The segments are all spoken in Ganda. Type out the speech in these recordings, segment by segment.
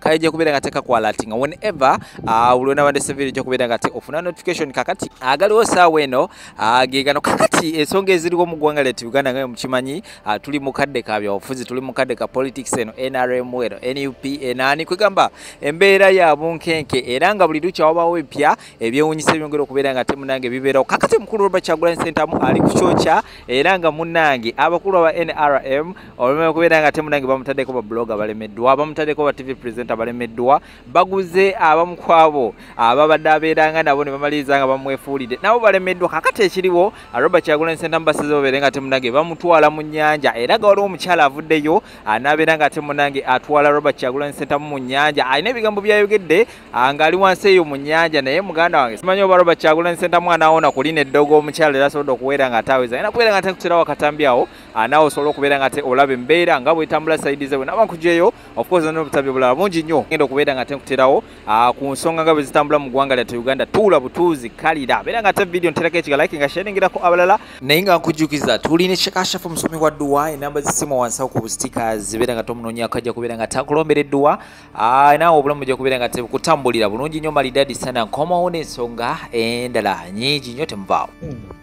kale ejja kubeera nga tekakwalatinga whenever ah, buli onaba ndese video ejja kubeera nga te ofuna notification kakati agaliwo saawa eno ah, gegano kakati ensonga eziriwo mu ggwanga lyatu uganda nga mukimanyi ah, tuli mu kadde ka byabufuzi tuli mu kadde ka politics eno nrm eno nup enaani kwegamba embeera ya bunkenke era nga buli lukya wabawo ebipya ebyewunyisa ebyongera okubeera nga te munange bibeerawo kakati mukulu robert kyagulanyi sentamu ali ku kyokya era nga munange abakulu aba nrm olume okubeera nga ate munange bamutaddeko babuloga balemeddwa bamutaddeko ba tv presenter balemeddwa baguze abamu kwabo ababadde abeeranga nabo ne bamaliriza nga bamwefuulidde nabo balemeddwa kakati ekiriwo robert kyagula ensenta mubasiza babeere nga ate munange bamutwala mu nnyanja era ga waliwo omukyala avuddeyo anaabeera nga ate munange atwala robert kyagula ensenta mu nnyanja alina ebigambo byayogedde ng'ali wansi eyo mu nnyanja naye muganda wange simanyi oba robert kyagula ensenta mwana awona kulina eddogo omukyala era asobodde okuweera nga ataaweza era kubeera nga atekutera wakatambi awo ah, naawe osobola okubeera nga te olaba embeera nga bwetambula saidi ze bwenaba nkujeeyo ofcourse nona obutabi obulala bungi nnyo genda okubeera nga te nkuterawo ah, ku nsonga nga bwezitambula mu ggwanga lyate uganda tuula butuuzi kalira beera nga te vidiyo nterako ekigalike nga sheningirako abalala naye nga nkujjukiza tuli ne kyekashafu omusomi wa dduwa enamba zisimu wansawo ku bustika zibeera nga tomunoonyako ajja kubeera nga takulombera edduwa ah, naawe obulamu bujja kubeera nga te kutambulira bulungi nnyo malidadi sana nkomawo n'ensonga endala nyingi nnyo temuvaawo hmm.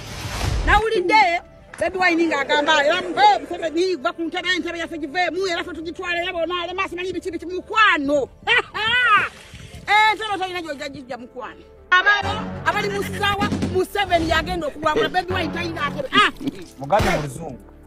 nawulidde bebi wayini ng'agamba era muve museveni va ku ntebe entebe yaffe giveemu era fe tugitwala era bona alema simanyi biki biki mukwano entebe tolina gyoja gijja mukwano ababo abali mu ssaawa museveni yagenda okuwangula bebi wayini talina atebe ah! muganda muluzungu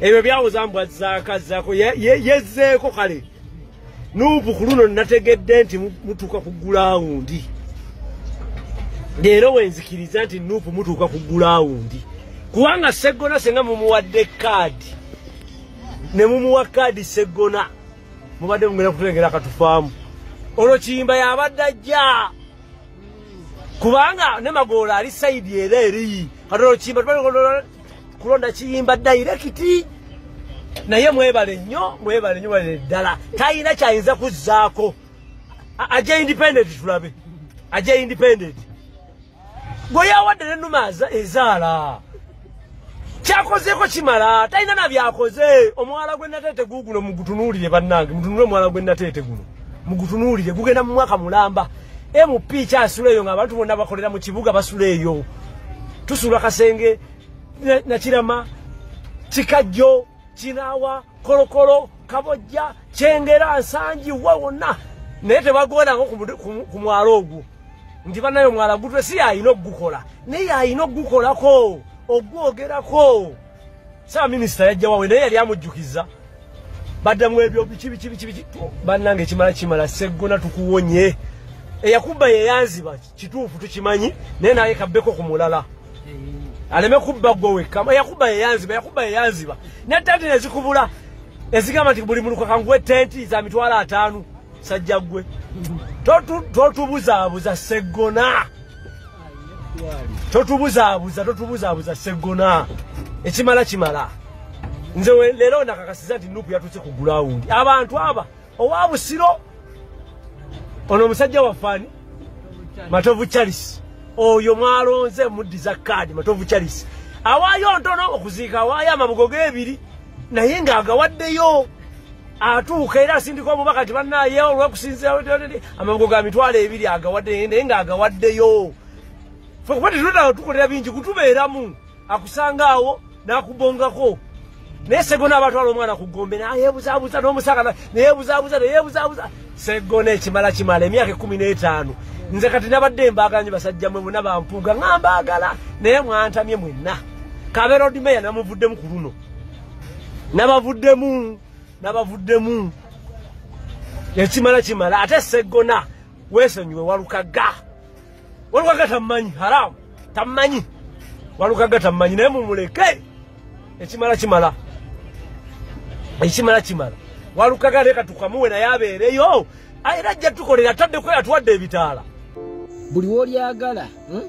ebyo byawoza mbwa zaka zako yezeeko kale nuupu ku luno nategedde nti mutuuka ku gulawundi leero wenzikiriza nti nuupu mutuuka ku gulawundi kubanga seggona senga mumuwadde kaadi ne mumuwa kaadi seggona mubadde mugenda kutulengera akatufaamu olwo kiyimba yabadde ajja kubanga ne magoola ali sayidi era eri kati olwo kiyimba kulonda kiyimba dairekiti naye mwebale nnyo mwebale nnyo balere ddala talina kyayinza kuzzaako aja independent tulabe aja independent gwe yawadde ne numa ezaala kyakozeeko kimala talina na byakoze omwala gwe nateete guuguno mugutunuulire bannange mutunule omwala gwe nateete guno mugutunuulire gugenda mu mwaka mulamba MP kyasula eyo ng'abantu bonna bakolera mu kibuga basula eyo tusula kasenge nakirama kikajjo kinawa kolokolo kabojja kyengera nsangi wa wonna naye tebagondako ku mwalo ogwo nti banaye omwala gutwe si yalina okugukola naye yalina okugukolako ogwogerako Saba minister yajja wawe naye yali amujjukiza badda mu ebyo biki biki biki biki bannange kimala kimala seggona tukuwonye eyakubba yeyanziba kituufu tukimanyi naye naye kabbeko ku mulala aleme kubba gwe wekka eyakubba yeyanziba eyakubba yeyanziba ne tenti nezikubula ezigamba nti buli mulukaka nguwe tenti za mitwalo ataano sajja gwe totubuzaabuza seggona totubuzaabuza totubuzaabuza seggona ekimala kimala nze leero nakakasiza nti nupu yatuuse ku gulawundi abantu aba owa busiro ono omusajja wafaani matovu charles oyo mwalonze muddiza kaadi matovu charles awaayo ntono okuziika awaayo amabugo g'ebiri naye ng'agawaddeyo atuuka era asindika omubaka ti banaye olwokusinzira amabugo ga mitwalo ebiri agawadde naye nga agawaddeyo fe kuba tetuleta tukolera bingi kutubeeramu akusanga awo nakubongako naye segona abatwala omwana ku gombe nayebuzabuza nomusaka neyebuzabuza neyebuzabuza segona ekimala kimala emyaka ekumi n'etaano nze kati nabadde mbaganye basajja mwe muna bampuuga nga mbagala naye mwantamye mwenna kaberodmeya namuvuddemu ku luno nabavuddemu nabavuddemu ekimala kimala ate seggona wesonyiwe walukagga walukagga tammanyi haramu tammanyi walukagga tammanyi naye mumuleke ekimala kimala ekimala kimala walukagga leka tukamuwe naye abeereyo era ajja tukolera tadde kwe atuwadde ebitaala buli wolyagala hmm?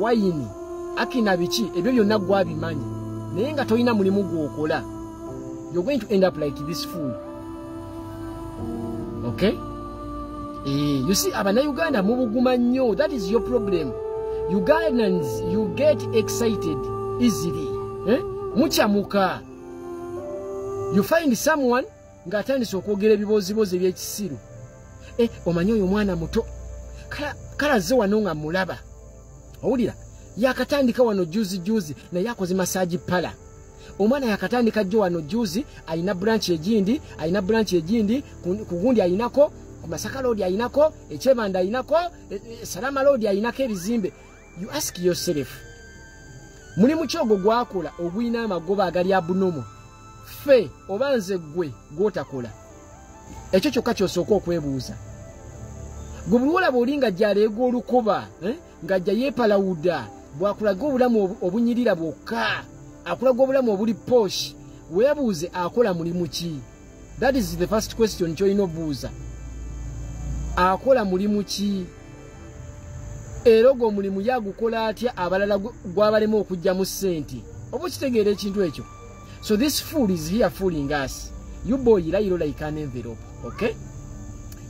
wayini akina biki ebyo byonna gwabimanyi naye nga tolina mulimu gwokola you're going to end up like this fool okay eh, you see abana uganda mubuguma nnyo that is your problem ugandans you get excited easily eh? muchamuka you find someone ng'atandise okwogera ebibooziboozi eby'ekisiru e omanyi oyo omwana muto kale azze wano nga mulaba owulira yakatandika wano juzi juzi naye akoze masaji pala omwana yakatandika jjo wano juzi alina branch egindi alina branch egindi ku gundi alinako ku masaka loodi alinako ekyebanda alinako e, e, salama loodi alinako ebizimbe you ask yourself mulimu ki ogwo gwakola ogulina amagoba agali abunomu ffe oba nze ggwe gwotakola ekyo kyokka kyosooka okwebuuza gwe buliwolaba oli nga gyaleega olukoba eh, nga jja yeepalawuda bwakulaga obulamu obunyirira bwokka akulaga obulamu obuli posh weebuuze akola mulimu ki that is the first question kyolina obuuza akola mulimu ki era ogwo omulimu yagukola atya abalala gwabalema okugyamu sente oba okitegeera ekintu ekyo so this fool is here fooling us you boy layiro like an envelope okay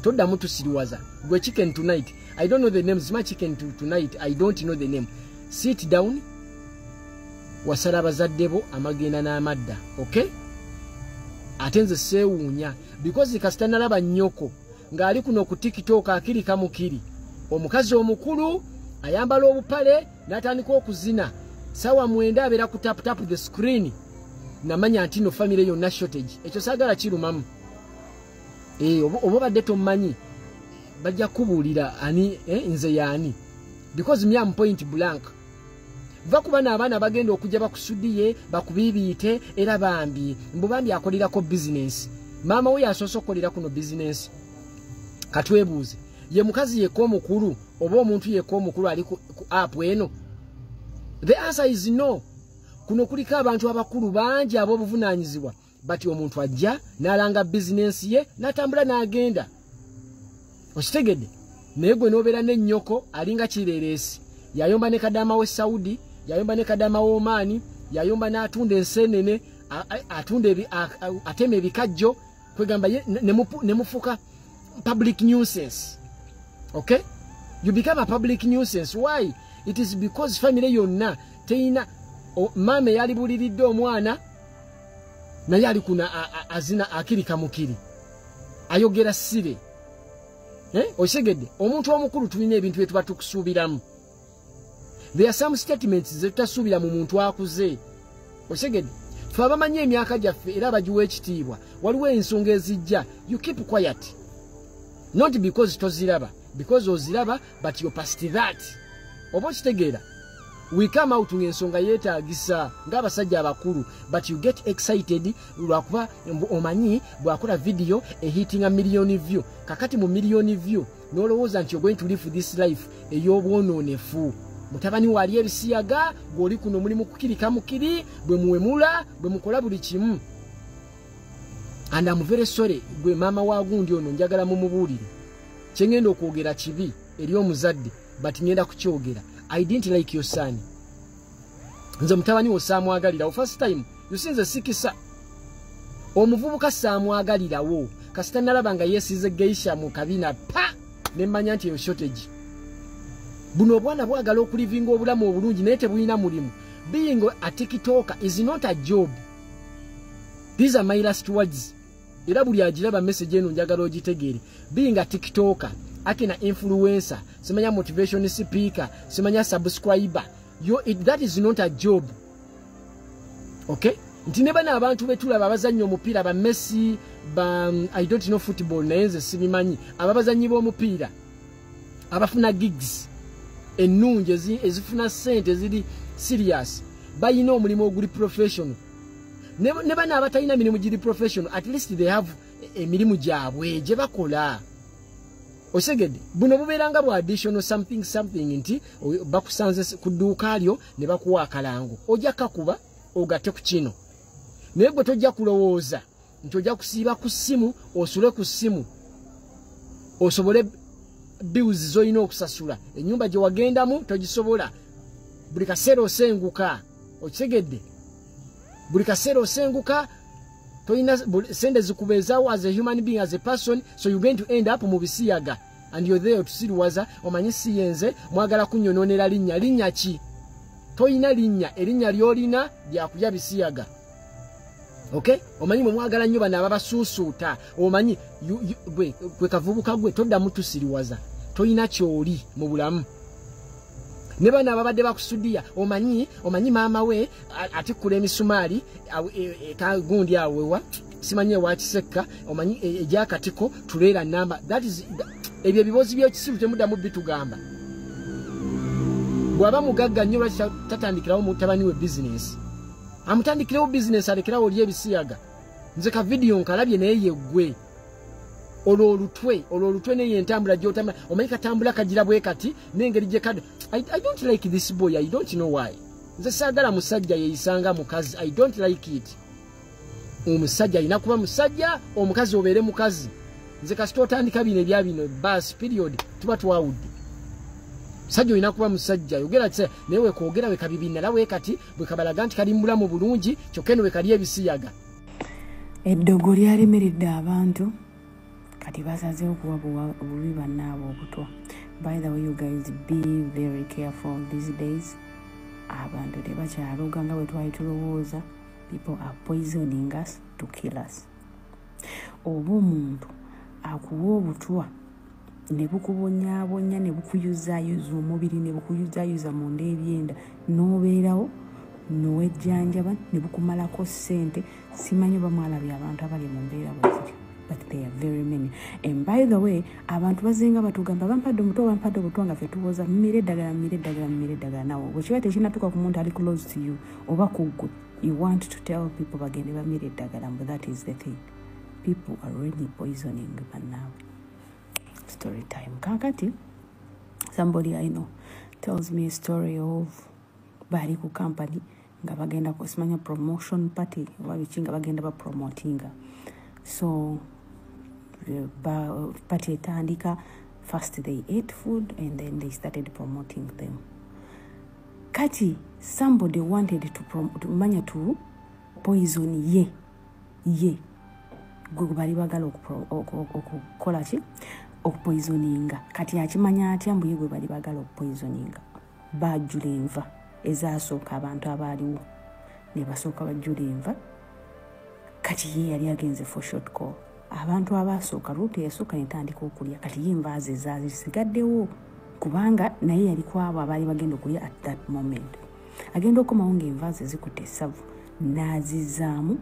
toddamu tusiriwaza gwe chicken tonight i don't know the name zima chicken tonight i don't know the name sit down wasala abazadde bo amagenda n'amadda okay ate nze seewuunya bikozi kasita nalaba nnyoko ng'ali kuno ku tiktok akirika mukiri omukazi omukulu ayambala obupale n'atandika okuzina sawa mwenda abeera ku taputapu the screen namanya nti no famire yonna shortage ekyo saagala kirumamu eh, oba obadde tommanyi bajja kubuulira ani eh, nze yaani because mi am point blank va ku bano abaana bagenda okujja bakusudiye bakubiibiite era bambi mbu bambi akolerako bizinensi maama we yasoose okukolera kuno bizinensi katwebuuze ye mukazi yeka omukulu oba omuntu yeka omukulu ali ku apu eno the answer is no kuno kuliko abantu abakulu bangi ab'obuvunaanyizibwa bati omuntu ajja n'alanga bizinensi ye n'atambula n'agenda okitegedde naye gwe n'obeera n'ennyoko alinga kireereesi yayomba ne kadaama w'e saudi yayomba ne kadaama w'omaani yayomba n'atunda enseenene atunda atema ebikajjo kwegamba ye ne mufuka public nuisance okay you become a public nuisance why it is because family yonna teyina maama eyalibuliridde omwana naye ali kuna azina akiri kamukiri ayogera sire eh? okitegedde omuntu omukulu tulina ebintu byetuba tukusuubiramu there are some statements zetutasuubira mu muntu akuze okitegedde fe abamanyi emyaka gyaffe era abagiwa ekitiibwa waliwo ensonga ezijja you keep quiet not because toziraba because oziraba but your past that oba okitegeera we come out ng'ensonga yeetaagisa ng'abasajja abakulu but you get excited lwakuba omanyi bwakola vidiyo ehitinga millioni view kakati mu millioni view n'olowooza nti ogoin to live this life ey'obwonoonefu mutabani waali ebisiyaga gw'oli kuno mulimu kukirika mukiri bwe muwemula bwe mukola buli kimu and am very sorry gwe maama wa gundi ono njagala mumubuulire kyengenda okwogera kibi eri omuzadde but ngenda kukyogera i didn't like your son nze mutabani wo saamwagalirawo first time usinze sikisa omuvubuka saamwagalirawo kasita nalaba nga yesize geisha mu kabina pa nemmanya nti eyo shortage buno obwana bwagala okulivinga obulamu obulungi naye tebulina mulimu being a tiktoker is not a job these are my last words era buli agiraba message eno njagala ogitegeere biyinga tiktoka ate na influencer simanya motivation speaker simanya subscriber yo it, that is not a job okay nti ne bana abantu betulaba abazannyi omupiira ba messi ba um, i don't know football naye nze sibimanyi aba bazannyi b'omupiira abafuna gigs ennungi ezifuna sente ziri serious bayina omulimu oguli professional ne bana abatalina mirimu giri professional at least they have emirimu gyabwe gye bakola osegedde buno bubeeranga bwa additional something something nti bakusanze ku dduuka lyo ne bakuwa akalango ojja kakuba ogate ku kino naye gwe tojja kulowooza nti ojja kusiiba ku ssimu osule ku ssimu osobole bills zolina okusasula enyumba gyewagendamu togisobola buli kaseera osenguka okitegedde buli kaseera osenguka tolina sente zikubeezawo as a human being as a person so you going to end up mu bisiyaga and you're there otusiriwaza omanyi siyenze mwagala kunyononera linnya linnya ki tolina linnya erinnya lyolina lyakulya bisiyaga okay omanyi mwe mwagala nnyo bano ababasuusuuta omanyi gwe kavubuka gwe toddamu tusiriwaza tolina kyoli mu bulamu ne bano ababadde bakusudiya omanyi omanyi maama we atikkula emisumaali e, e, kagundi awewa simanyi ewakisekka omanyi e, egyakatiko tuleera namba ebyo ebiboozi byekisiru temuddamu bitugamba bwaba mugagga nnyo lwaki tatandikirawo mutabani we bizinesi amutandikirewo bizinesi alekerawo oli ebisiyaga nze ka vidiyo nkalabye naye yeggwe olwo olutwe olwo olutwe neye entambula gyotambula omanyi katambula kagira bwe kati n'engeri gye kada I, i don't like this boy i don't know why nze saagala musajja yeyisanga mukazi i don't like it omusajja alina kuba musajja omukazi obeere mukazi nze kasita otandika bino ebya bino bas period tuba twawudde musajja olina kuba musajja yogera kisa naye wekwogera wekabibinala wekati bwekabalaga nti kali mubulamu bulungi kyokka eno wekali ebisiyaga eddogo lyalimiridde abantu kati basazeho kuwa bubi bannaabwe obutwa by the way you guys be very careful these days abantu tebakyaloga nga bwe twali tulowooza people are poisoning us to kill us oba omuntu akuwa obutwa ne bukubonyabonya ne bukuyuzayuza omubiri ne bukuyuzayuza munda ebyenda n'obeerawo nowejjanjaba ne bukumalako ssente simanyi oba mwalabye abantu abali mu mbeera bweziri but they are very many and by the way abantu bazinga batugamba bampadde omuto bampadde obutwa nga fe tuwoza mumire eddagala mumire eddagala mumire eddagala nawe bwekiba tekinatuka ku muntu ali close to you oba kuggwe you want to tell people bagende bamire eddagala mbu that is the thing people are really poisoning banaawe story time kakati somebody i know tells me a story of bali ku company nga bagenda kusimanya promotion party oba biki nga bagenda bapromotinga so eh, party etandika first they ate food and then they started promoting them kati somebody wanted to, to manya to poison ye yeah. ye gwe bali bagala okukola ki okupoisoninga kati akimanya atya mbu ye gwe bali bagala okupoisoninga bajula enva ezasooka abantu abaaliwo nebasooka bajula enva kati ye yali agenze for short call abantu abasooka ruuto yasooka netandika okulya kati ye enva ze zazisigaddewo kubanga naye yali kwabo abaali bagenda okulya at that moment agenda okomawo ngaenva ze zikuta esavu nazizaamu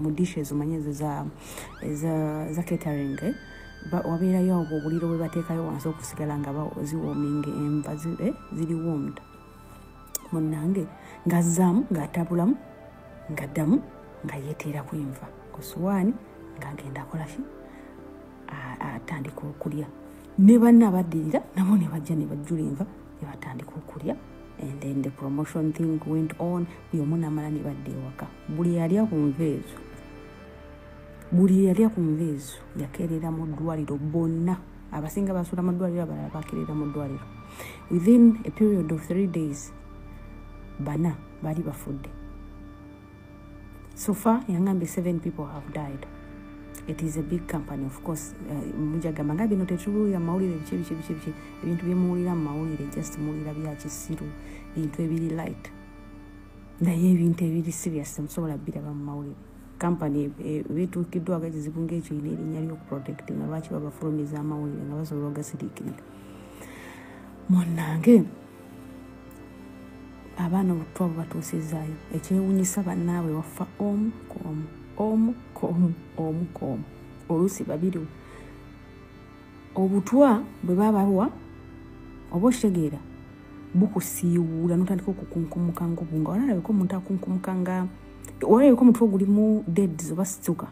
mu dish ezo manyi ezo za catering eh? wabeerayo awo obuliro bwe bateekayo wansi okusigala nga ziwominga enva eh? ziri womd munange ngazaamu ngaatabulamu ngaddamu nga yeteera ku enva ku suwaani ngagenda akolaki atandika okulya ne banna abaddirira nabo ne bajja ne bajjula enva ne batandika okulya and then the promotion thing went on buli omu namala ne badda ewaka buli yalya ku nva ezo buli yalya ku nva ezo yakeerera mu ddwaliro bonna abasinga basuula mu ddwaliro abalala bakeerera mu ddwaliro within a period of three days bana baali bafudde so far yangambye seven people have died it is a big company of course uh, mujagamba nga bino tetubuulira mumawulire biki biki biki biki ebintu byemuwulira mumawulire just muwulira byakisiru bintu ebiri light naye ebintu ebiri serious musobola biraba mumawulire kampany eh, bituukiddwako ekizibu ngaekyo ina erinnya lyokuprotect nga lwaki babafulumiza amawulire nga basobola ogasiriikirira munange abaana obutwa bubatuusizaayo ekyewunyisa bannaabwe waffa omu ku omu omu ku omu omu ku omu oluusi babiri obutwa bwe babawa oba okitegeera bukusiiwuula notandika okukunkumuka ngubu nga walalabeko omuntu akunkumuka nga walalabeko omutwe ogulimu deads oba situka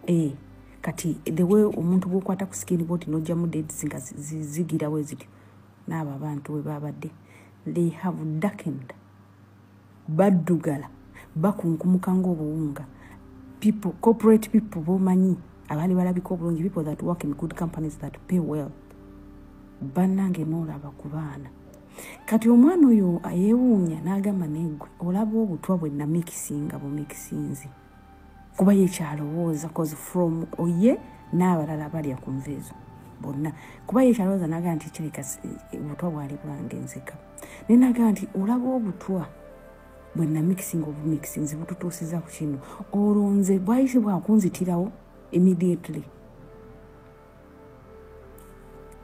ee eh, kati the way omuntu bwokwata ku sikini bwoti nojjamu deads nga zigirawo ezityo n'abo abantu bwe baabadde they have darkened baddugala bakunkumuka ng'obuwunga people corporate people bomanyi abaali balabika obulungi people that work in good companies that pay well bannange noolaba ku baana kati omwana oyo yeewuunya n'agamba negwe olaba obutwa bwe namikisinga bumikisinzi kuba yekyalowooza cause from oye n'abalala balya ku nva ezo bonna kuba yekyalowooza naga nti kireka eh, obutwa bwali bwange nzeka naye naga nti olaba obutwa bwe namixing obumixing zibututuusiza ku kino olwo nze bwayise bwakunzitirawo immediately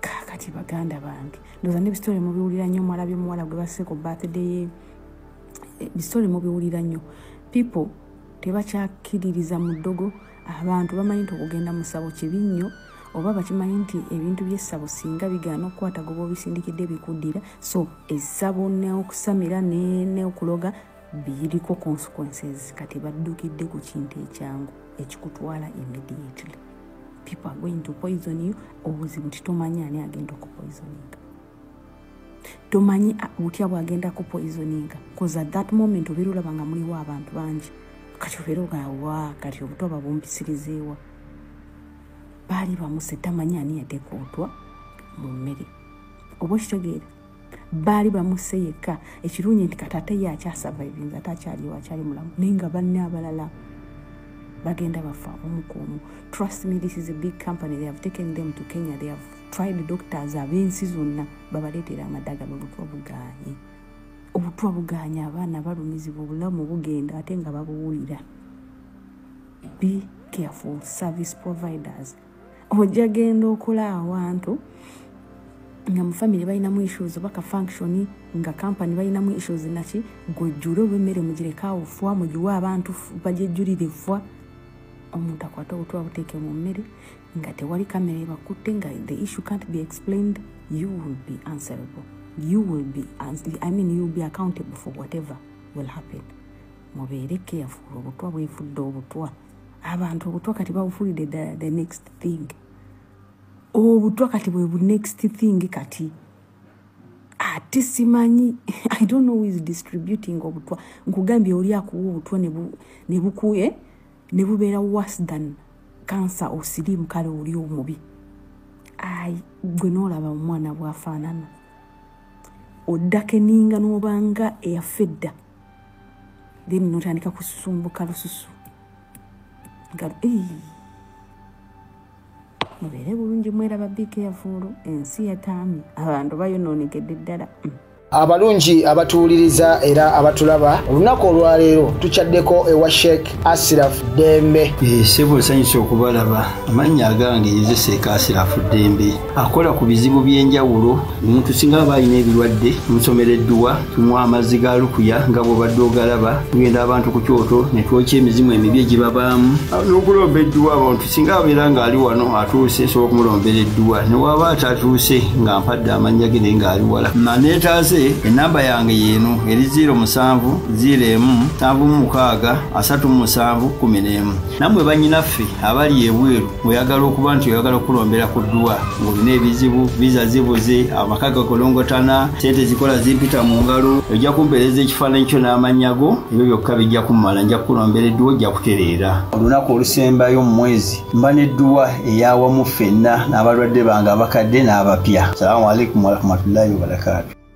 kakati baganda bange ndoza nebisitole mubiwulira nnyo mwala byomuwala gwe baseeko birthday ye eh, bisitole mubiwulira nnyo people tebakyakiririza mu ddogo abantu bamanyi nti okugenda mu ssabo kibi nnyo oba bakimanyi nti ebintu byessabo singa bigaana okukwata goba obisindikidde bikuddira so essabo neokusamira neokuloga biriko consequences kati baddukidde ku kintu ekyangu ekikutwala immediately people are going to poison you obuzibu nti tomanyi ani agenda okupoisoninga tomanyi butya bwagenda kupoisoninga bcause at that moment obeera olaba nga muliwo abantu bangi kati obeera ogawa kati obuto babumbisirizeewa baali bamuse tamanyi ani yatekootwa mu mmere oba okitegeera baali bamuse yekka ekirungi nti kataate ye akyasurvivinga ate akyaliwo akyali mulamu naye nga banne abalala bagenda bafa omukuomu trust me this is a big company they have taken them to kenya they have tried doctors ab'ensi zonna babaleetera amadaga babutwa buganye obutwa buganye abaana balumizibwa obulamu bugenda ate nga babuwulira be careful service providers ojja genda okola awantu nga mu family balinamu issues oba ka function nga company balinamu issues naki gwejjule oba emmere mugirekawo fwa mugiwe abantu bajejjulire fwa omuntu akwata obutwa buteeke mu mmere nga tewali kamera ebakutte nga the issue can't be explained you will be answerable you will be i mean you will be accountable for whatever will happen mubeere careful obutwa bwefudde obutwa abantu obutwa kati babufuulidde ddala the next thing obutwa kati bwe bu next thing kati ate simanyi i don't know is distributing obutwa nkugambye oli akuwa obutwa nebukuye eh? ne bubeera worse than kansa osiriimu kale oli omubi ai gwe noolaba omwana bwafaanana oddako eninga n'obanga eyafa edda then notandika kusumbuka lususu nga mubeere bulungi mweraba biika yavuulu ensi yataami abantu bayonoonegedde ddala mm. abalungi abatuwuliriza era abatulaba olunaku olwaleero tukyaddeko ewa sheek asirafu ddembe sebo nsanyusa okubalaba amannya agange yezeseeka asirafu ddembe akola ku bizibu by'enjawulo omuntu singa aba alina ebirwadde omusomera edduwa tumwa amazzi ga lukuya nga bwobadde ogalaba tugenda abantu ku kyoto ne twokya emizimu emibi egibabaamu n'okulomba edduwa abantu singa abeera ng'ali wano atuuse nsobola okumulombera edduwa ne waaba atatuuse nga mpadde amannya ge naye ng'ali wala maneetaaze ennamba yange yeeno eri 0 musanvu 0 emu nsanvu mu mukaaga asatu mu musanvu kumi n'emu nammwe bannyinaffe abali ebweru oyagala okuba nti oyagala okukulombera ku dduwa ng'olina ebizibu viza zibuze amaka gakolongotana sente zikola zimpita mu ngalo ojja kumpeereza ekifaananyi kyo n'amannya go ebyo byokka bijja kummala nja kukulombera edduwa ojja kutereera olunaku olusembayo mu mwezi mba nedduwa eyawamu ffenna n'abalwadde bange abakadde n'abapya salamu alaikum warahmatullahi wabarakatu